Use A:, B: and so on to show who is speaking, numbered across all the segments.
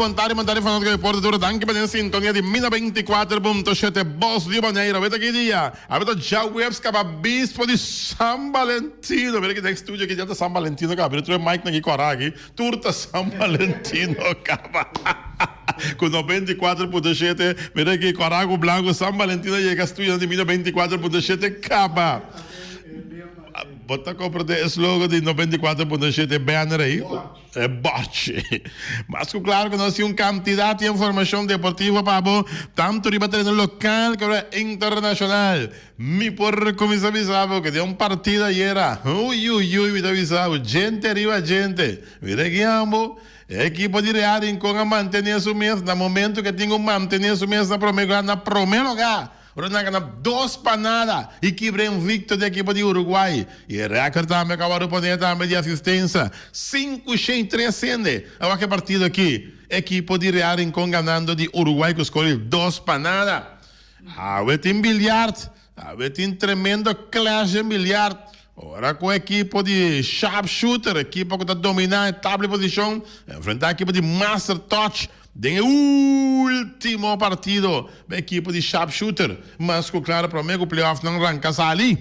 A: Bon tarde, bon tarde fanático deporte duro. Dank pa den sintonia di Mina 24.7 Bos di Bonero. Weet aki dia. Abeta ja webs kaba bispo di San Valentino. Mira ki next studio ki dia ta San Valentino ka abri. Troe mic na ki kora aki. Tur ta San Valentin no kaba ku no beinticuatro punto shete mira aki Corago Blanco San Valentin a yega studio nan di mi no beinticuatro punto shete kaba bo ta comprende e slogan di no beinticuatro punto shete banner ei e bòrchi mas ku klaro ku nos tin un kantidat di informashon deportivo pa bo tantu riba tereno lokal kaba internashonal Mi por cuminsa bisa bo que den un partido ayera, uiuiui, mi ta bisa bo, djente riba djente. Mi regian bo, e equipo di Real Rincon a mantene su mes na momento que tin cu mantene su mes na prome lugar, na prome lugar, ora nan gana dos pa nada y kibra invicto di equipo di Uruguay y e record tambe cu a wor repone tambe di asistensa, sinku shei tres sende awor cu e partido aki, equipo di Real Rincon ganando di Uruguay cu score di dos pa nada. Awe tin biljart. Awe tin tremendo clash den biljart. Ora ku un ekipo di sharpshooter, ekipo ku ta dominá e tabla di posishon, enfrentá ekipo di master touch den e último partido. Bo ekipo di sharpshooter, mas ku klar promé ku playoffnan ranka sali.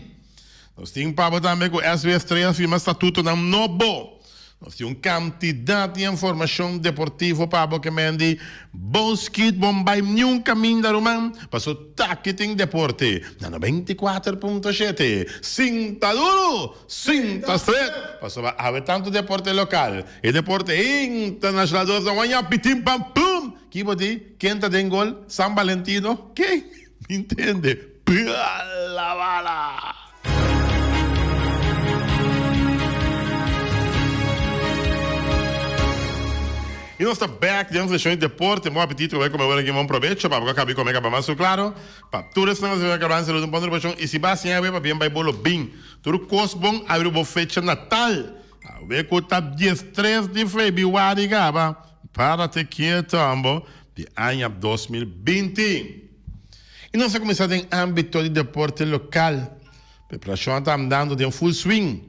A: Nos tin pabo tambe ku SB Estrella firma statutonan nobo. Nos tin un kantidat di informashon deportivo pa bo ke mendi. Bos kit bon bai niun kaminda ruman paso taki tin deporte na noventa i kuater punto shete. Sinta duru! Sinta stret! Pasobra awe tantu deporte lokal i deporte internashonal dos ta waña pitin pan plum! Ki bo di? Ken ta den gol? San Balentino? Ken? Mi ntende. Pua la bala! Y nos ta back den seccion di deporte. Bon apetito cu bay come ora aquí. Bon provecho pa boca cabi come caba manso claro. Pa tur esnan nos a caba nan saludo bon repashon. Y si ba hacienda awe pa bien bay bolo bin. Tur cos bon abri bo fecha natal. Awe cu ta diestres di febiuari caba. Para te kieto ambo di aña dos mil binti i nos a kuminsá den ámbito di deporte lokal. Preparashon a ta andando den full swing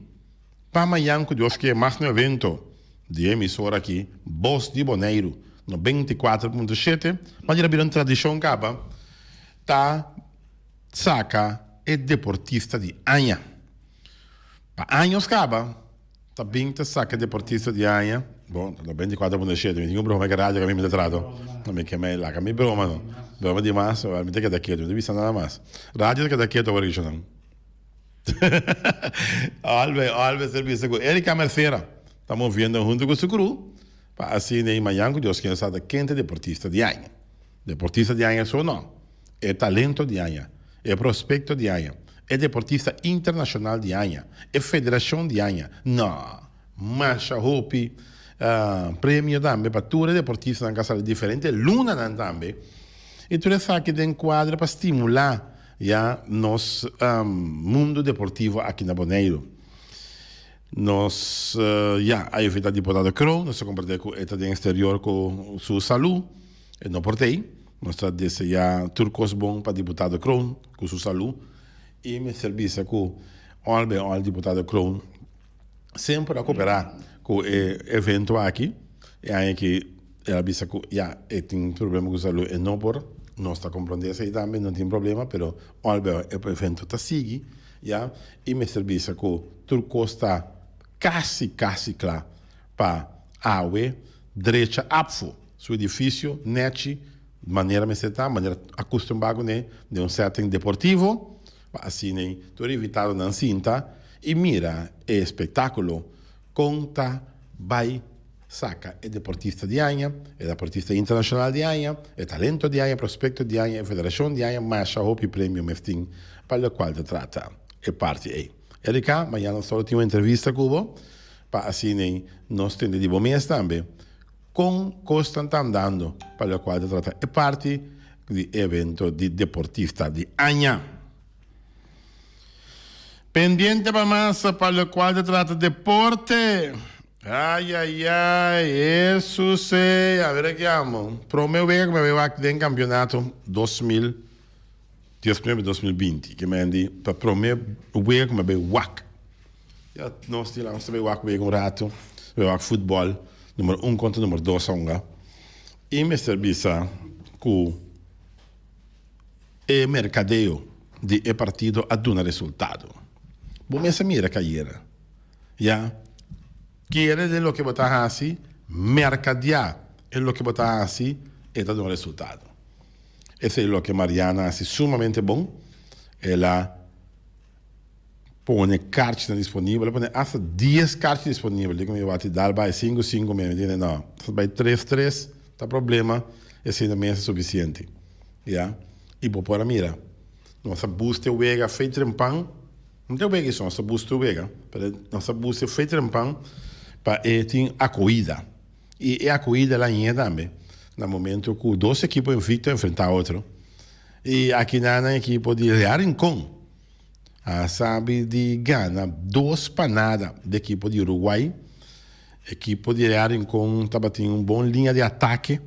A: pa mañan ku Dios kier magno evento di e emisora aki Bos di Boneiru no benti i kuater punto shete manda a bira un tradishon kaba ta saka e deportista di aña. Pa años kaba. Ta bin ta saca deportista di aña. Bo lo benti cuater pone shete. Mi tin un broma eke radio cu ami mi ta trato. Lo mi keme laca mi broma no. Broma di mas awor mi ta keda keto. Mi ta bisa nada mas. Radio ta keda keto awor Richardson. Albe albe ser bisa cu Erica Mercera ta moviendo hunto cu su cru pa asina y mañan cu Dios ken sa ta kente deportista di aña. Deportista di aña so no. e talento di aña, e prospecto di aña, e deportista internacional di aña, e federacion di aña, no! Masha hopi premio tambe pa tur e deportistanan cu a sali diferente lunanan tambe y tur esaki den cuadra pa stimula ya nos mundo deportivo aki na Boneiru. Nos ya a invita Diputado Croon nos a comparti cu e ta den exterior cu su salud, e no por t'ey. Nos ta deseá tur kos bon pa Diputado Kroon ku su salú i mester bisa ku òl b'e òl Diputado Kroon semper a koperá ku e evento aki. E aña aki el a bisa ku ya e tin problema ku salú e no por, nos ta komprondé esei tambe no tin problema pero òl b'e òl e evento ta sigui ya i mester bisa ku tur kos ta kasi kasi kla pa awe drecha apfo. Su edifisio neci manera mester ta, manera acustumba cu ne, den un setting deportivo, pa asina e tur invitadonan sinta y mira e espectaculo con ta bay saca e deportista di aña, e daportista internacional di aña, e talento di aña, prospecto di aña, e federacion di aña, masha hopi premio mes tin pa lo cual ta trata e parti ey. Erica, mañana nos ta lo tin un entrevista cu bo pa asina nos tende di bo mes tambe Kon kosnan ta andando pa lokual ta trata e parti di e evento di deportista di aña. Pendiente pa mas pa lokual ta trata deporte. Ay ay ay Hesus ey, a ver aki amo. Prome wega mi a wak den kampionato dos mil. diasnuebe dos mil binti ke mende pa prome wega ku mi a bai wak ya nos tin la nos ta bai wak wega un ratu ta bai wak futbòl numero un kontra numero dos aunga i mester bisa ku e merkadeo di e partido a duna resultado bo mes a mira ke ayera ya kere den loke bo ta hasi merkadia e loke bo ta hasi e ta duna resultado. Esei loke Mariana a hasi sumamente bon. El a pone karchinan disponibel. El a pone hasta dies karchi disponibel. Dikon mi wak ti dal bai sinku sinku mes? Mi di no. Hasta bai tres tres ta problema. Esei na mes ta sufisiente. Ya. I bo por a mira. Nos a bus te wega fei trempan. No ta e wega ason. Nos ta bus te wega. Pero nos ta bus te fei trempan pa e tin akoida. I e akohida el a hine tambe na momento ku dos ekipo envicto a enfrentá otro. I akinan nan ekipo di Real Rincon a sabi di gana dos pa nada di ekipo di Uruguay. Ekipo di Real Rincon tabatin un bon liña di atake.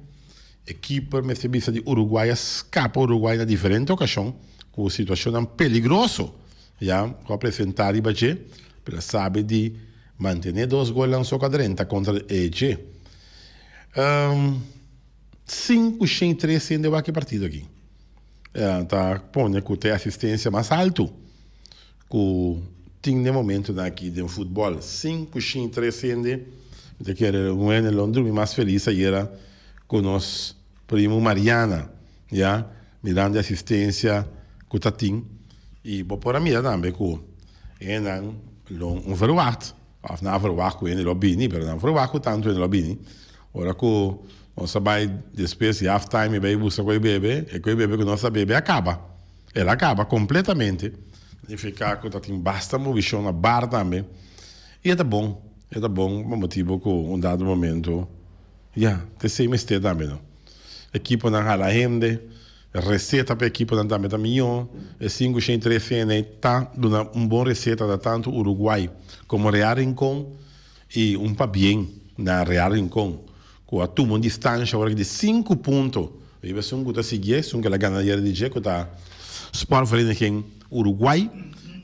A: E keeper mester bisa di Uruguay a skapa Uruguay na diferente okashon ku situashonnan peligroso, ya, ku a presentá riba dje, pero a sabi di Mantené dos golnan so ka drenta kontra di Eje. Sin ku Shane Tres Sende a wak e partido aki ta pone ku ta e asistensia mas altu ku tin den momentunan aki den futbòl. Sin ku Shane Tres Sende mi ta kere Wenelon drumi mas felis ayera ku nos primu Mariana. Ya, mirando e asistencia cu ta tin. Y bo por a mira tambe cu engenan lo no verwacht, of nan a verwacht cu ene lo bini, pero nan a verwacht cu tanto ene lo bini. Ora cu nos a bay despues di half time y bay buska cu e bebe, e cu e bebe cu nos ta bebe a caba. El a caba completamente. Significa cu ta tin basta movicion na bar tambe. Y e ta bon, e ta bon pa motibo cu un dado momento. Ya, ta esei mester tambe no. Ekiponan hala hende, e reseta pa ekiponan tambe ta mihó. E sinku shen tres fna ta duna un bon reseta ta tantu Uruguai komo Real Rincon i un pabien na Real Rincon ku a tuma un distanshi ora ki di sinku punto riba esun ku ta sigui esun ku el a gana ayera di dje ku ta Sportvereniging Uruguai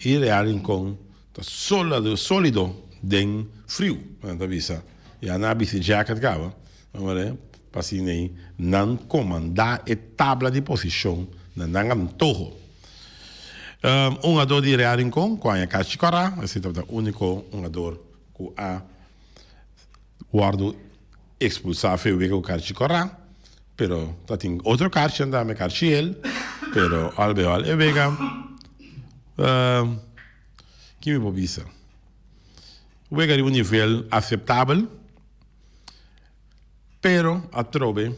A: i Real Rincon. Ta solido den friu. Nan ta bisa, Ya nan a bisti jacket caba, manera pa asiney nan comanda e tabla di posicion na nan antoho. Un ador di Real Rincon cu a haña cachi cora, esey tabata unico un ador cu a Wordo expulsa fe wega cu carchi cora, pero ta tin otro carchi anda me carchi el, pero al veo al e wega, ki mi por bisa? Wega riba un nivel aceptabel, pero atrobe,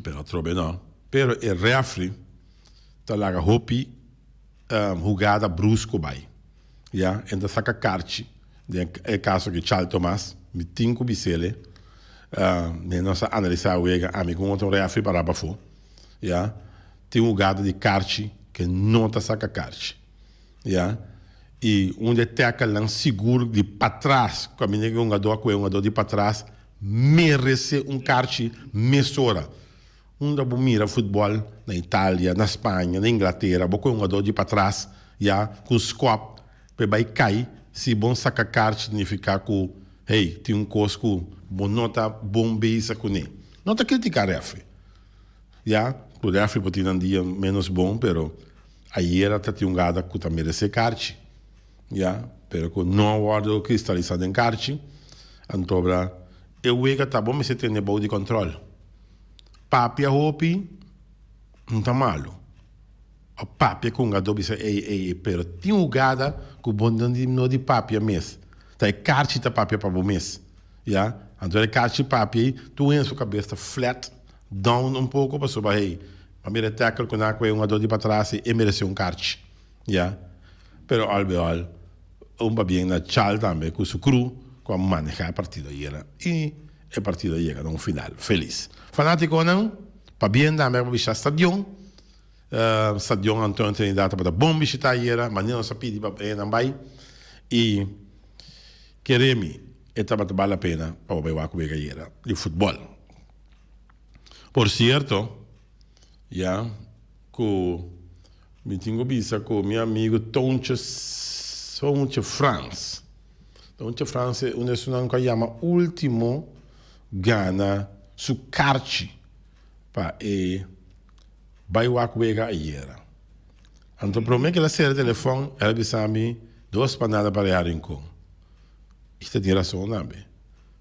A: pero atrobe no, pero e refri ta laga hopi hugada brusco bay. Ya, e ta saka karchi den e kaso aki Charles Thomas, mi tin ku Bisele, mi nos a analisá wega, ami ku un otro rèfri pará pafó, ya, tin hugada di karchi ke no ta saka karchi, ya, i un di e tèkelnan sigur di patras, ku a mira ku e hungadó a kohe hungadó di patras, merese un karchi mesora. Unda bo mira futbòl, na Italia, na Spaña, na Inglatera, bo kue un hugadó di patras, ya, ku un skòp, pa e bai kai, si bon saka karchi signifiká ku, hey, tin un kos ku bo no ta bon beza kuné. No ta kritiká refri, ya, ku refri por tin nan dia ménos bon, pero ayera ta tin un gada ku ta meresé karchi, ya, pero ku no a wòrdu kristalisá den karchi, anto obra e wega ta bo mester tene bou di kòntròl. Papia hopi no ta malu. Bo papia con hogador bisa ey ey ey pero tin hugada cu bo no di papia mes. Ta e carchi ta papia pa bo mes. Ya. Anto ora e carchi papia ey tur hende su cabes ta flat down un poco pasobra hey pa mira e tackle cu na cu e hogador di patras ey e merece un carchi. Ya. Pero all be all un pabien na Charles tambe cu su crew cu a maneha e partido ayera y E partido a yega na un final felis. Fanaticonan, pabia e name pa bishita stadion. Stadion Antonio Trinidad tabata bon bishita ayera, mane nos a pidi pa enan bay y keremi e tabata bala pena pa bo bay wak wega ayera di futbol. Por cierto, ya, cu mi tin cu bisa cu mi amigo Tounche Frans. Tonchi Frans e unu di esunnan ku a yama ultimo gana su karchi pa e bai wak wega ayer. Anto prome ku el a sera telefon el a bisa mi dos panada pa reha Rincon. I ta tin rason tambe.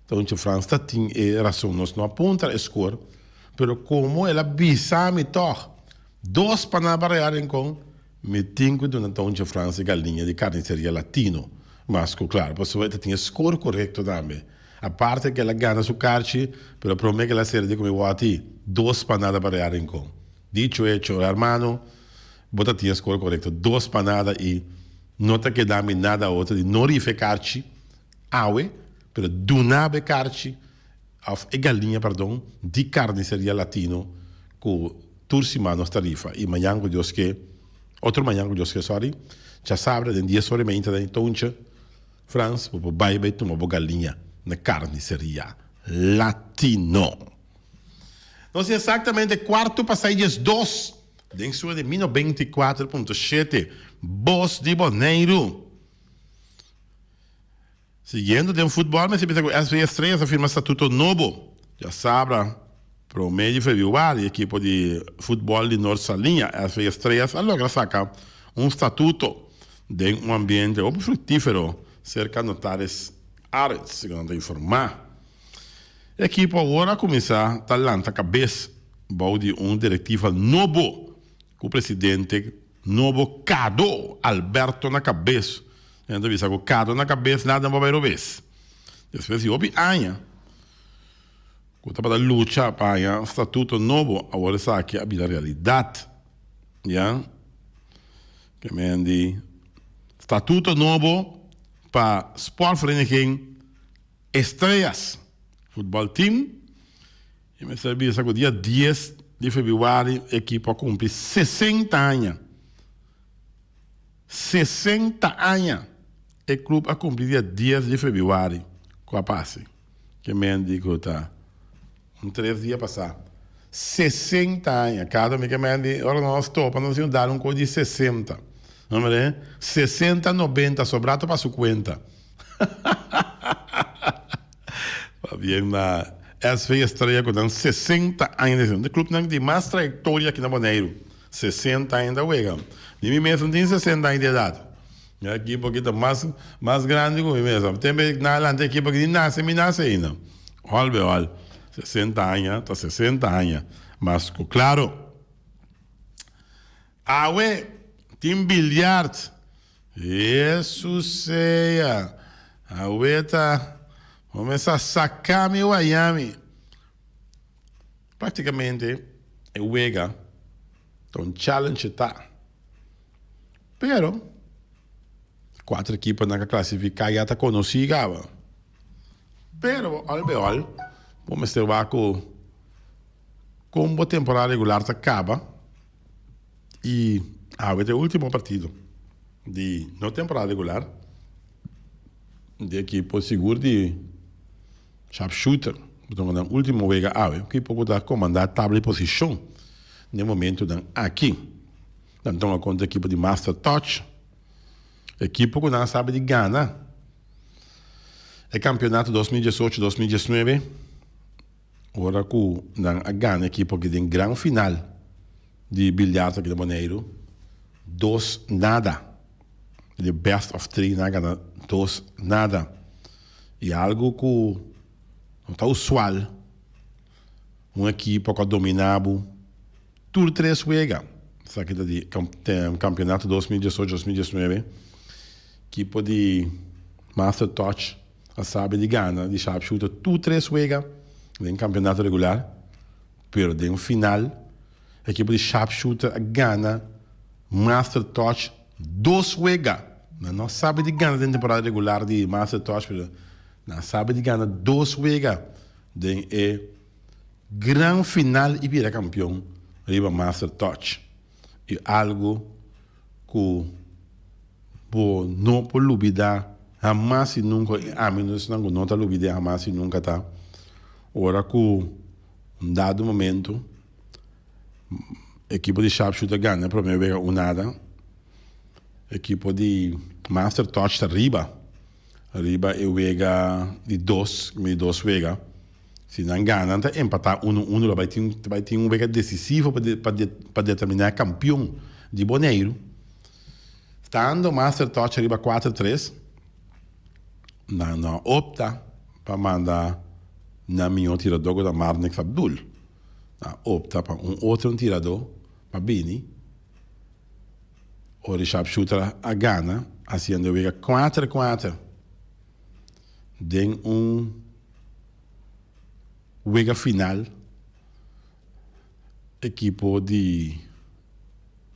A: Tonchi Frans ta tin e rason. Nos no a puntra e skor pero komo el a bisa mi tog. Dos panaba real encon mi tin cu duna Tonchi Frans y galiña di Carniceria Latino mas cu claro pasobra e ta tin e score corecto tambe. Aparte e kela gana su carchi pero prome kela serie di cu mi wou ti dos panadaba real encon. Dicho hecho hermano bo ta tin e score corecto dos panada y no ta keda mi nada otro di no rifa e carchi awe pero dunaba e carchi Of e galiña, pardon, di karniseria Latino ku tur siman nos ta rifa. I mañan ku Dios ke, otro mañan ku Dios ke, sòri, chasabra den dies ora i meinta den e touncha, Frans, bo por bai bai tuma bo galiña na karniseria Latino. Nos tin esaktamente kuartu pa sai dies dos den sur di Mino beinti kuater punto shete, Bos di Boneiru. Siguiendo den futbol mester bisa cu SV Estrella ta firma statuto nobo diasabra prome di februari. Ekipo di futbol di Nort Saliña, SV Estrellas, a logra saca un statuto den un ambiente hopi fructifero cerca Notaris Arends, segun nan ta informa. E ekipo awor a cuminsa ta lanta cabes bou di un directiva nobo. Ku presidente nobo kado Alberto na kabes. Nan ta bisa ku kado na kabes nada no por bai robes. Despues di hopi aña ku tabata lucha pa haña statuto nobo awor esaki a bira realidat. Ya ke men di statuto nobo pa sportvereniging Estrellas futbòl team E mester bisa ku dia dies di febrüari e ekipo a kumpli sesenta aña. Sesenta aña e klup a kumpli dia dies di febrüari. Ku a pasa ke menti ku ta un tres dia pasá. Sesenta aña. Kada un di ke menti ora nan nos topa nos dici dal un kos di sesenta. No mira e. Sesenta, nobenta, sobrá ta pa su kuenta. Hahahahaha. Pabien na SV Estrella cu nan sesenta aña di de clubnan di mas trayectoria aki na Boneiru. Sesenta aña ta wega. Ni mi mes no tin sesenta aña di edad. Mi ekipo aki ta mas mas grandi cu mi mes. Tempe na adelante e ekipo aki ni nace mi nace aina. All be all sesenta aña ta sesenta aña. Mas cu claro awe tin billiard. Hesus sea, Awe ta bo mester a saca mi wayami. Practicamente e wega ta un challenge ta, pero e cuater ekiponan cu a clasifica ya ta conoci caba. Pero bo all be all bo mester wak cu con bo temporada regular ta caba. y awe ta e ultimo partido di no temporada regular di ekipo sigur di sharpshooter bo ta wenda ultimo wega awe un ekipo ku ta komanda tabla di posishon den e momentunan aki nan tuma konta e ekipo di master touch ekipo ku nan a sabi di gana e kampionato dos mil diesocho dos mil diesnuebe. Ora ku nan a gana ekipo aki den gran final di biljart aki na Boneiru dos nada. Den best of three nan a gana dos nada. I algu ku no ta usual un ekipo ku a dominá bo tur tres wega. Sa kita di kampionato dos mil diesocho dos mil diesnuebe. Ekipo di Master Toch. a sabi di gana di sharpshooter tur tres wega den campeonato regular pero den final ekipo di sharpshooter a gana master touch dos wega nan no a sabi di gana den temporada regular di master touch pero nan a sabi di gana dos wega den e gran final y bira campeon riba master touch. i algu ku bo no por lubidá hamas i nunka, i ami no esnan ku no ta lubid'é hamas i nunka ta ora ku un dado momento ekipo di Sharpshooter gana e promé wega un nada, ekipo di Master Touch ta riba riba e wega di dos mi dos wega. Si nan gana nan ta empatá unu unu lo bai tin ta bai tin un wega desisivo pa de pa de pa determiná kampion di Boneiru stando master touch riba kuater tres nan lo a opta pa manda nan mihó tiradó ku ta Marnix Abdul nan a opta pa un otro tiradó pa bini ora e sharpshooter a gana hasiendo e wega kuater kuater den un wega final ekipo di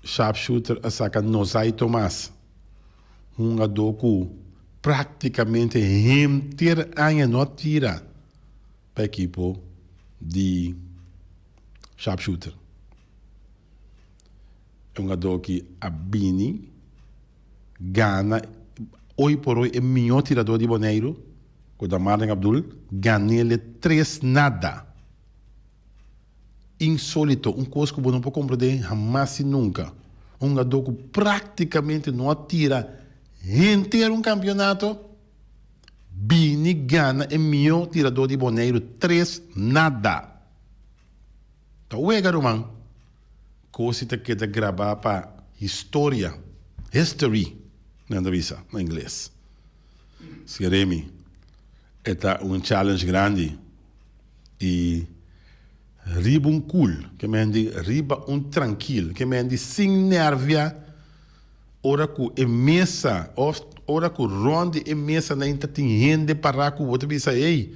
A: Sharpshooter a saka Nozai Tomas, hungadó ku praktikamente henter aña no a tira pa ekipo di Sharpshooter. E hungadó ki a bini. gana oy por oy e mihó tiradó di Boneiru ku ta Marlen Abdul gan'ele tres nada. Insólito, un kos ku bo no por komprendé hamas i nunka. Un hugadó ku práktikamente no a tira henter un kampionato bini gana e mihó tiradó di Boneiru tres nada. Ta wega ruman. Cosi ta keda grabá pa historia, history, nan ta bisa na ingles. Sin Remy, e ta un challenge grandi. I riba un kul, ke mende riba un trankil, ke mende sin nervia, ora ku e mesa òf ora ku rònt di e mesa na inter tin hende pará ku bo ta bisa, ey,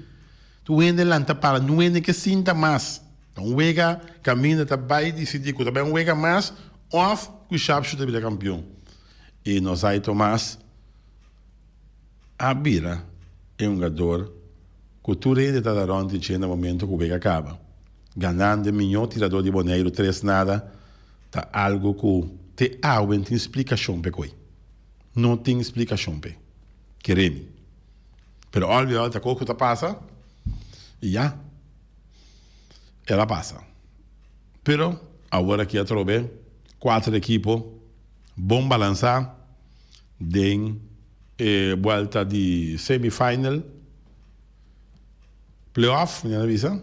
A: tur hende lanta para, nunde ke sinta mas. Ta un wega kaminda ta bai disidí ku ta bai un wega mas òf ku Sharpshoot ta bira kampion. I nos ai Tomas a bira e hungador ku tur hende ta da rònt dje na momentu ku wega kaba, ganando e miñó tiradó di Boneiru tres nada ta algu ku te awen tin splikashon p'e koi. No tin splikashon p'e kere mi. Pero òl bior òl ta kos ku ta pasa i ya. el a pasa pero aworaki atrobe kuater ekipo bon balansa den e buelta di semi final playoff mi na bisa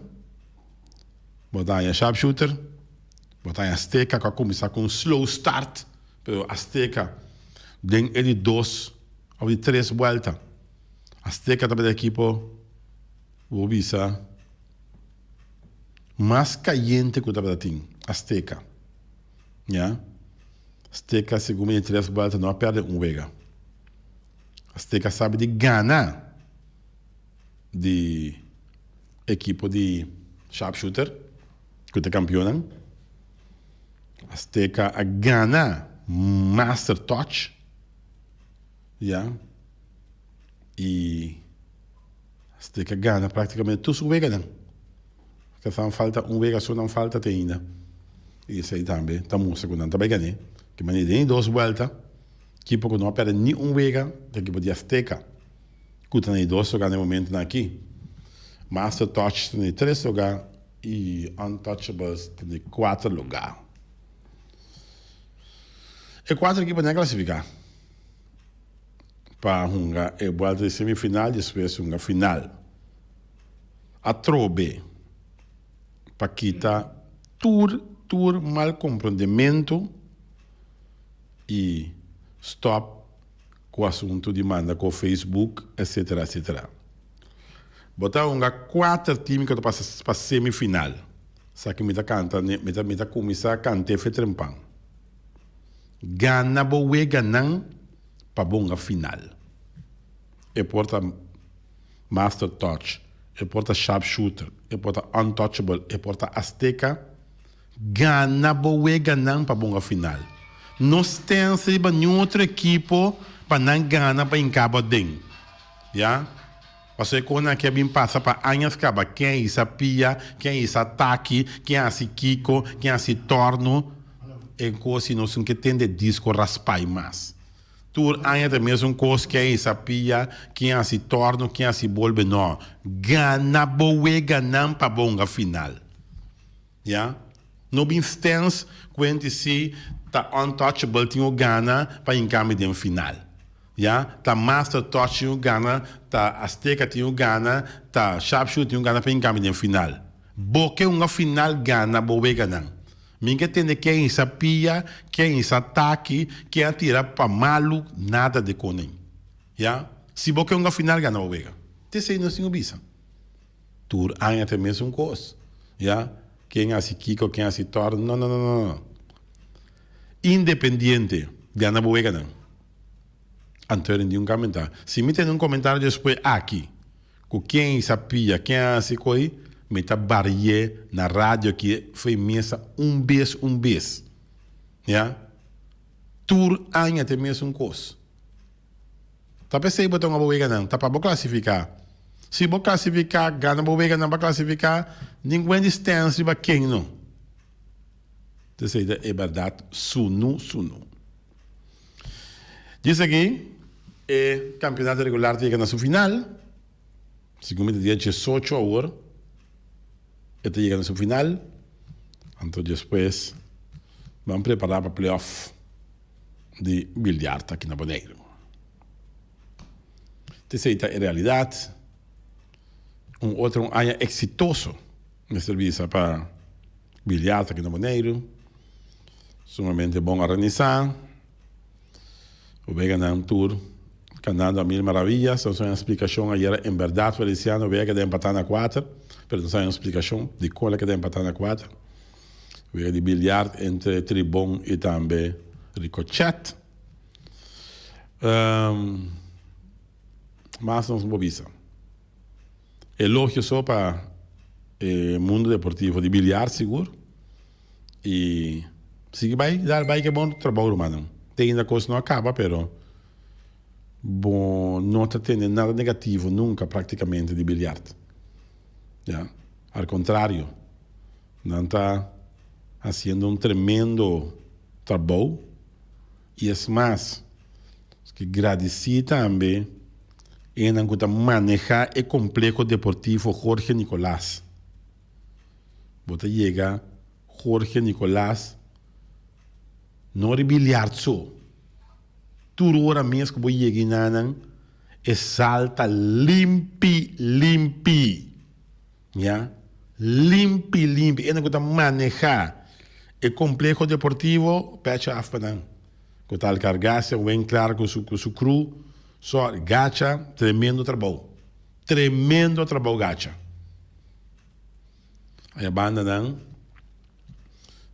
A: bo ta haña sharpshooter bo ta haña Azteca ku a kuminsá ku un slow start pero Azteca den e di dos òf di tres buelta Azteca ta bin e ekipo. Bo bisa mas cayente cu tabata tin Azteca ya Azteca segun mi e tres vuelta no a perde un wega Azteca sabi di gana di ekipo di sharpshooter cu ta campeonnan Azteca a gana master touch. Ya y steke gana practicamente tur su weganan ta sa falta un wega su nan falta te ainda y esey tambe ta mustra cu nan ta bay gané ki manera den e dos buelta kipo cu no a perde ni un wega ta e kipo di azteca cu ta na e dos lugar den e momento nan aki master touch ta na e tres lugar y untouchables ta na e cuatro lugar e cuatro ekiponan a clasifica. pa hunga e buelta di semifinal despues hunga final. A trobe pa kita tur tur mal comprondementu y stop cu asuntu di manda cu Facebook etc. Etc. Bo ta hunga cuater team cu ta pasa pa semifinal. Sa cu mi ta canta mi ta cuminsa cante Fetrempan. Gana bo weganan pa bo unga final. E por ta master touch, e por ta sharp shooter, e por ta untouchable, e por ta azteca. Gana bo weganan pa bo unga final. No stense riba niun otro ekipo pa nan gana pa hincabo aden. Ya. Pasobra e kosnan ke a bin pasa pa añas kaba, ken a hisa pia, ken a hisa taki, ken a hasi kiko, ken a hasi tòrnu, e kos si nos tin ke tende disko raspai mas. Tur aña ta mesun kos, ken a hisa pia, ken a hasi tòrnu, ken a hasi bolbe. No, gana bo wega nan pa bo hunga final. Ya. No bin stens cu en di si ta untouchable tin un gana pa hinca mi den final. Ya. Ta master touch tin un gana, ta azteca tin un gana, ta sharpshooter tin un gana pa hinca mi den final. Bo ke hunga final gana bo weganan. Mi ke tende ken a hisa pia, ken a hisa taki, ken a tira pa malu, nada de konen. Ya. Si bo ke hunga final gana bo wega. Te sei nos tin cu bisa. Tur aña ta e mesun kos. Ya, ken hasi kiko, ken hasi tòrdo, no, no, no, no, no. Independiente di anda bo weganan. Anto eren di un kamentá. Si mi tene un komentario despue aki ku ken i sa pia, ken a hasi koi, mi ta barié na radio aki fe mesa un bes, un bes. Ya. Tur aña ta e mesun kos. Ta p'esei bo ta un aboweganan, ta pa bo klasifiká. Si bo klasifiká, gana boweganan pa klasifiká, nin Wendy Stens riba ken no. Teseida e bèrdat sunu sunu. Dje esaki e kampionato regular ta yega na su final. Segun mi ta dia diesocho awor e ta yega na su final. Anto despues, ban prepará pa play-off. di biljarta aki na Boneiru. Te esei ta e realidat. Un otro un aña exitoso mester bisa pa biljarta aki na Boneiru. Sumamente bon organisa. Wega nan tur cantando a mil maravillas. Nos a haña un explicacion ayera, en berdad Feliciano, wega keda empata na kuater, pero nos a haña un explicacion dicor lo keda empata na kuater. Wega di biljart entre Tribon i tambe Ricochet. Mas nos no por bisa. Elogio so pa e mundo deportivo di biljart sigur. I sigui bai, dal bai ku e bon trabou rumannan. Te ainda kos no a kaba pero bo no ta tene nada negativo nunka praktikamente di biljart. Ya. Al contrario, nan ta haciendo un tremendo trabou y es mas, nos ke gradici tambe enan ku ta maneha e Complejo Deportivo Jorge Nicolas. Bo ta yega Jorge Nicolas no riba e liard so, tur ora mes ku bo yega ina nan E sal ta limpi limpi ya limpi limpi ende ku ta maneha e kompleho deportivo pecha af pa nan ku ta Alkargase wen klar ku su ku su kru so gacha tremendo trabou tremendo trabou gacha. Aña bandanan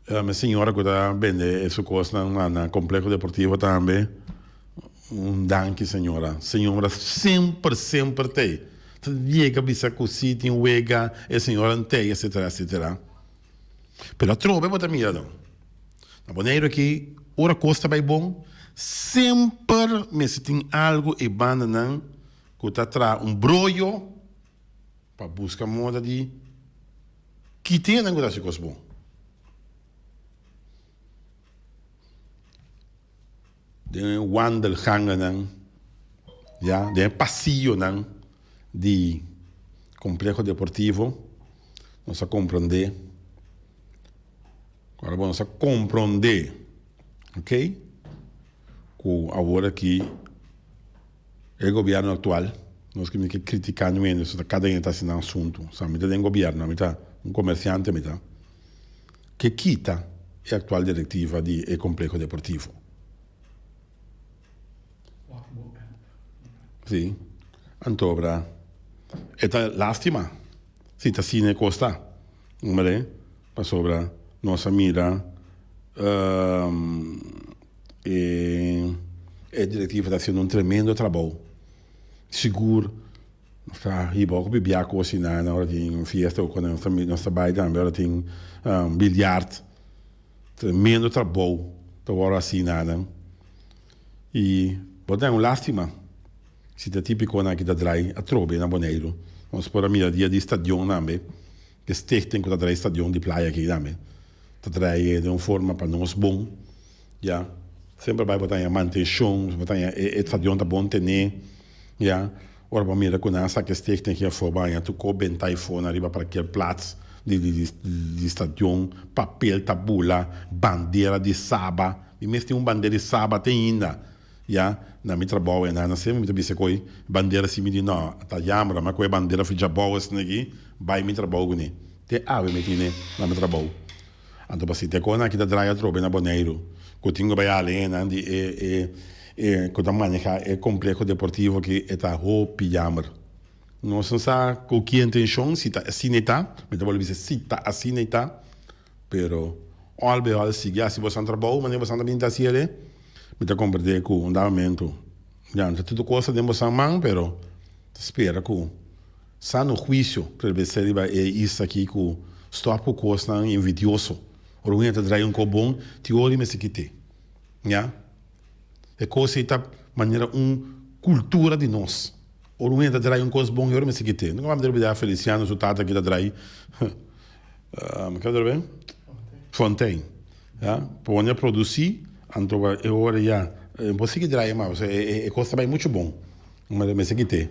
A: e señora ku ta bende e su kosnan na Complejo Deportivo tambe un danki señora. Señora semper semper ta ei ta yega bisa ku si tin wega e señora no ta ei etsetera etsetera pero atrobe bo ta mira nan na Boneiru aki ora kos ta bai bon semper mester tin algu ei bandanan ku ta traha un broyo. Pa buska moda di kite nan ku ta hasi kos bon. Den e wandelgangennan, ya, den e pasionan di Complejo Deportivo nos a compronde, ora bo nos a compronde, ok, ku awor aki. E gobierno actual nos kimin ke critica nuende so ta cada ene ta haci nan asunto sa mi ta den gobierno ami ta un comerciante mi ta ke kita e actual directiva di e compleho deportivo si antobra e ta lastima si ta asina e cos ta pasobra nos a mira. E directivo ta haciendo un tremendo trabao sigur nos ta hiba hopi bibia cosi na ora tin fiesta oco nos ta nos ta bay tambe ora tin bilyart tremendo trabao ta wor haci na nan y bo ta un lastima si ta tin piconan aki ta draai atrobe na Boneiru nos por a mira dia di stadion tambe E stichting ku ta trae e stadion di playa aki tambe ta trae den un forma pa nos bon, ya. Semper bai bo ta haña mantenshon, bo ta haña e stadion ta bon tené, ya. Ora bo mira ku nan a saka e stichting aki afó bo a haña tur kop bentá i fona riba parker plats di di di stadion, papel ta bula, bandera di saba, mi mes tin un bandera di saba te ainda. Ya, na mi trabou e nana semper mi ta bisa koe bandera simi di no, ta yambra ma koe bandera of jabou asina aki bai mi trabou kuné. Te awe mi tine na mi trabou. Anto pa si te koe nan ki ta draya atrobe na Boneiru ku tin ku bai ale nan di e e e ku ta maneha e kompleho deportivo aki e ta hopi yamber. Nos no sa ku ki intenshon si ta asina e ta, mi ta bolbe bisa si ta asina e ta. Pero all be all sigui hasi bo san trabou manera bo san ta bin ta hasi ele, mi ta comprende cu un da momento ya no ta tudu cosa den bo san man, pero ta spera cu sano huicio prebelesé riba e eis aki cu stop cu cosnan invidioso, ora un hende ta draai un cos bon tin ora i mester kit'e, ya e cos ei ta manera un cultura di nos, ora un hende ta draai un cos bon e ora mester kit'e, no caminda olbida Feliciano su tata aki ta draai. Um, kende lo ben? Fontein. Ya, pa wòrdu a produsí, anto pa e ora ya, e por sigui draaie mas, pasobra e, e, e kos ta bai muchu bon. Kuma ta mester kit'é.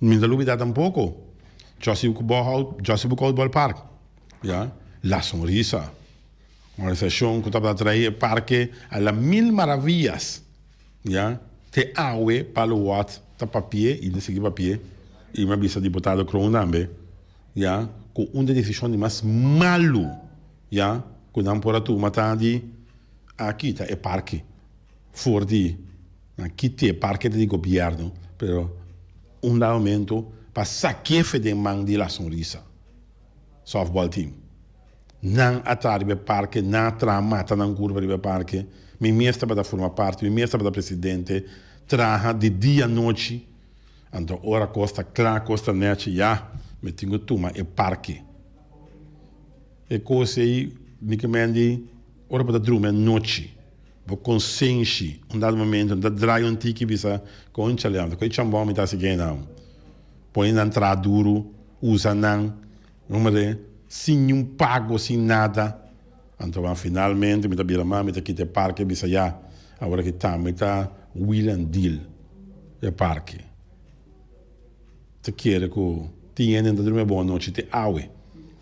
A: Mi no ta lubidá tampoko, Jòssi Bòkhout, Jòssi Boekhout Bòlpark, ya, La Sonrisa, un organisashon ku tabata trae e parke a la mil maraviyas, ya, te awe Palo Wòrdt ta papia i ta sigui papia, i mi a bisa Diputado Kroon tambe. ya ku un di desishon di mas malu ya ku nan por a tuma ta di a kita e parke for di nan kiti e parke ta di gobièrnu pero un dado momento pa sakefe den man di la sonrisa softball team nan a traha riba e parke nan a traha mata nan kurba riba e parke mi mes tabata forma parti mi mes tabata presidente traha di dia nochi. Anto ora kos ta kla kos ta nèchi ya mi tin ku tuma e parke. E kos ei mi kamendi ora bo ta drumi anochi bo konsenshi un dado momento mi ta drai un tiki bisa konchale anto ku e chambon mi ta hasi ke nan. Pone nan traha duru, usa nan. Numero e, sin niun pago, sin nada. Anto ban finalmente mi ta bira mas, mi ta kita e parke e bisa ya awor aki ta mi ta wheel and deal e parke. Ta kere ku tin hende nan ta drumi abou anochi te awe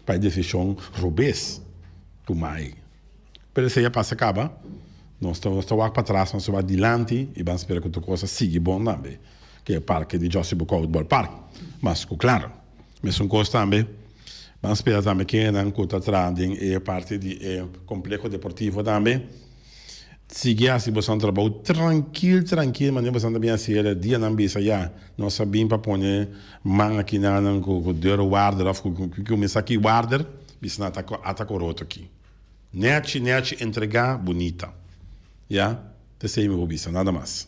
A: pa e desishon robes ku mai. Pero esei a pasa kaba, nos ta nos ta wak patras, nos ta wak dilanti i ban spera ku tur kos a sigui bon tambe ku e parke di Josy Bokouth Ballpark, mas ku klaro. Mesun kos tambe ban spera tambe kendenan ku ta traha den e parti di e kompleho deportivo tambe. Sigui hasi boso trabou trankil trankil manera boso ta bin hasi el. E dianan bisa ya nos a bin pa pone man aki nannan ku dor warder òf ku kuminsá ki warder bisa nan ata ata koroto aki. Nèchi nèchi entregá bunita ya esei mi por bisa nada mas.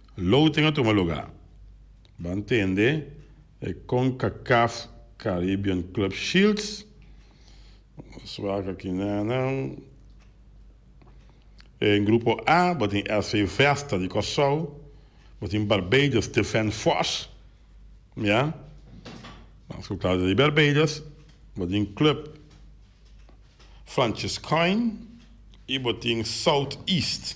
A: Loting a tuma lugá. Ban tende e Concacaf Caribbean Club Shields. Nos wak aki nena. En Grupo A bo tin SV Vesta di Kòrsou. Bo tin Barbados Defend Force. Ya. Nan su klas di Barbados. Bo tin Club Franciscain i bo tin South East.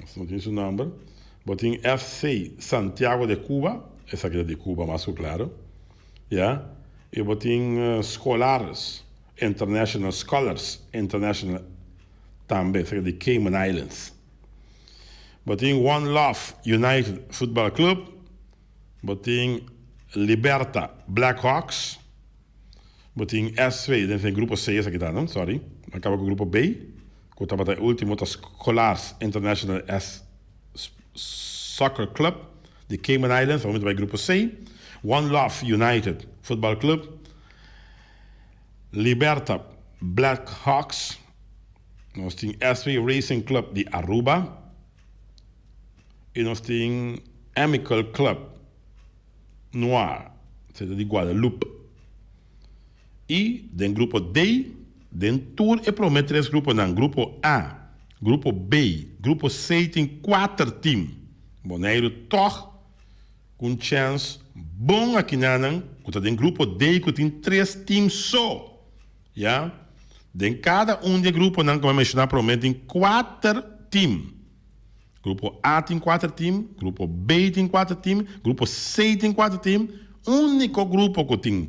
A: Nos no tin su nomber. Bo tin FC Santiago de Cuba, esaki ta di Cuba mas cu claro, ya. Y bo tin Scholars International, Scholars International, tambe esaki ta di Cayman Islands. Bo tin One Love United Football Club. Bo tin Liberta, Black Hawks. Bo tin SV, den den grupo C esaki ta, no? Sorry. Nan kaba ku grupo B, ku tabata e último ta Scolars International S Soccer Club di Cayman Islands, awor mi ta bai grupo C. One Love United Football Club. Liberta, Black Hawks. Nos tin SV Racing Club di Aruba. y nos tin Amical Club Noir se ta di Guadalupe y den grupo D den tur e prome tres gruponan grupo A grupo B grupo C tin kuater team Boneiru tog cu un chance bon akinan nan cu ta den grupo D cu tin tres team so. Ya. Den kada un di e gruponan ku mi a menshoná promé tin kuater tim. Grupo A tin kuater tim, grupo B tin kuater tim, grupo C tin kuater tim. Úniko grupo ku tin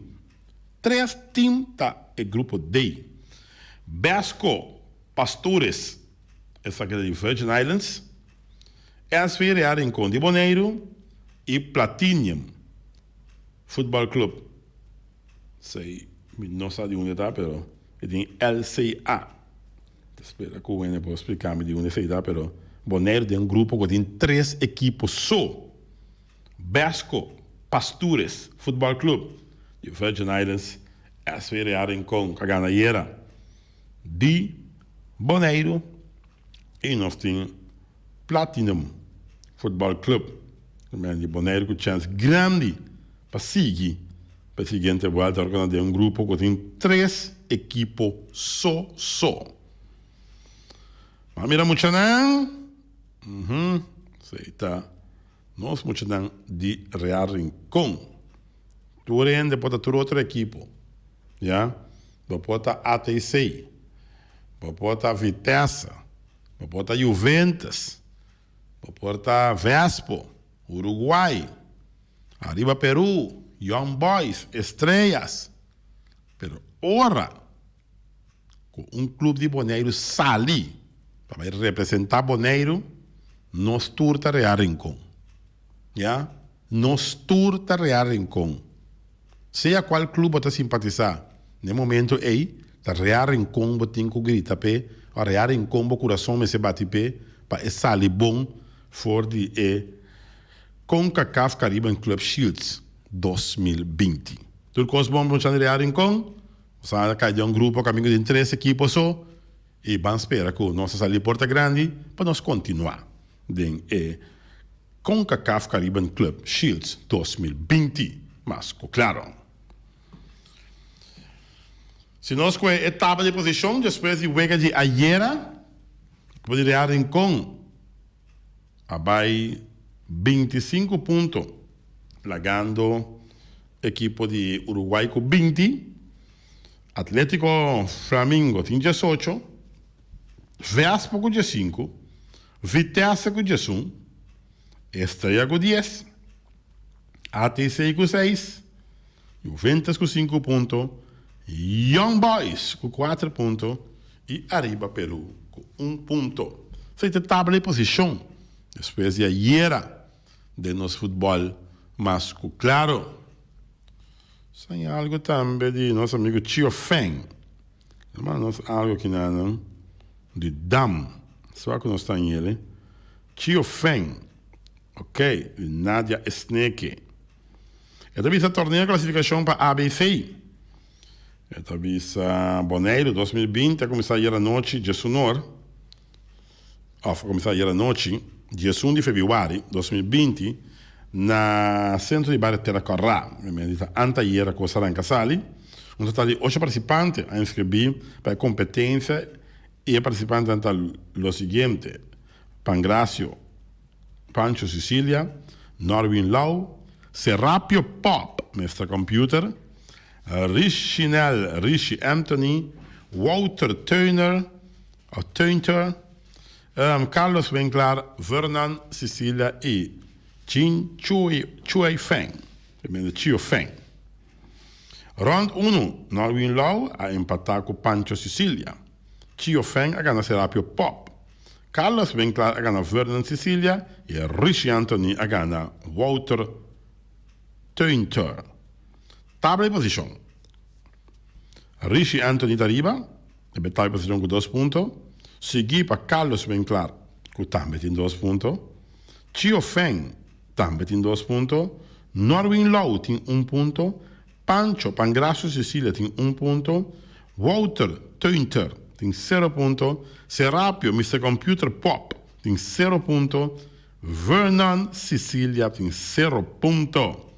A: tres tim ta e grupo D. Besko, Pastures, esaki ta di Virgin Islands, SVRA Rincon di Boneiru i Platinium Futbòl Klup Sei, mi no sa di unde ta, pero e tin LCA. Ta spera ku Wene por splika mi di unde esei ta, pero Boneiru tin un grupo ku tin tres ekipo so, Besko, Pastures Futbal Club, di Virgin Islands, SV Real Rincon, ku a gana ayera, di Boneiru, i nos tin. Platinum Football Club Remera di Bonaire cu chance grandi pa sigui pa e siguiente vuelta ora cu na den un grupo cu tin tres ekipo so so. M'a mira muchanan, uhum esey ta nos muchanan di Real Rincon. Tur hende por ta tur otro ekipo ya, bo por ta ATC, bo por ta Vitesse. bo por ta Juventus, bo por ta Vespo, Uruguay, Arriba Peru, Young Boys, Estrellas, pero ora cu un club di Boneiru sali pa bay representa Boneiru, nos tur ta Real Rincon. Ya. Nos tur ta Real Rincon. Sea cual club bo ta simpatisa, n'e momento ey ta Real Rincon bo tin cu grita p'e or Real Rincon bo curason mester bati p'e pa e sali bon for di e Concacaf Caribbean Club Shields dos mil binti. Tur cos bon pa nos chan di Real Rincon. Nos a cay den un grupo camingo di un tres ekipo so. I ban spera ku nos a sali e porta grandi pa nos kontinuá den e Concacaf Caribbean Club Shields dos mil binti, mas ku klaro. Si nos kohe e tabla di posishon despues di wega di ayera, ekipo di Real Rincon a bai binti i sinku punto lagando ekipo di Uruguay ku binti. Atlético Flamingo tin diesocho, Vespa ku diesinku, Vitesse ku diesun, Estrella ku dies, ATC ku seis, Juventus ku sinku punto, Young Boys ku kuater punto i Arriba Peru ku un punto. Esei ta tabla e posishon despues di ayera. den nos futbòl mas ku klaro. San i algu tambe di nos amigu Chio Feng. El manda nos algu aki nanan di dam. Sua ku nos ta ngele, Chio Feng, ok, di Nadia Esneke. E ta bisa Torneo Klasifikashon pa ABC. E ta bisa Boneiru dos mil binti a kuminsá ayer anochi dje su onor. Of a kuminsá ayera nochi, dies un di febiuari, dos mil binti, na sentro di bario Tera Kòrá, mester di ta anteayera ku Saranka Sali, un total di ocho partisipante a inskribí pa e kompetensia i e partisipantenan ta lo siguiente, Pangracio, Pancho Sicilia, Norwin Lau, Serapio Pop, Mister Computer, Rishinel Rishi Anthony, Wouter Theuner, Atunter, Earm Carlos Winklar, Vernan Sicilia y Chin Chuey Feng, Tremendo Chio Feng. Rond uno, Norwin Lau a empata cu Pancho Sicilia. Chio Feng a gana Serapio Pop. Carlos Winklar a gana Vernan Sicilia y Richie Anthony a gana Wouter Tunter. Tabla y posicion, Richie Anthony ta riba. E Betay Batallon ku dos punto, siguí pa Carlos Benclar ku tambe tin dos punto, Chio Feng tambe tin dos punto, Norwin Lou tin un punto, Pancho Pangracio Cecilia tin un punto, Wouter Teunter tin sero punto, Serapio Mister Computer Pop tin sero punto, Vernon Cecilia tin sero punto.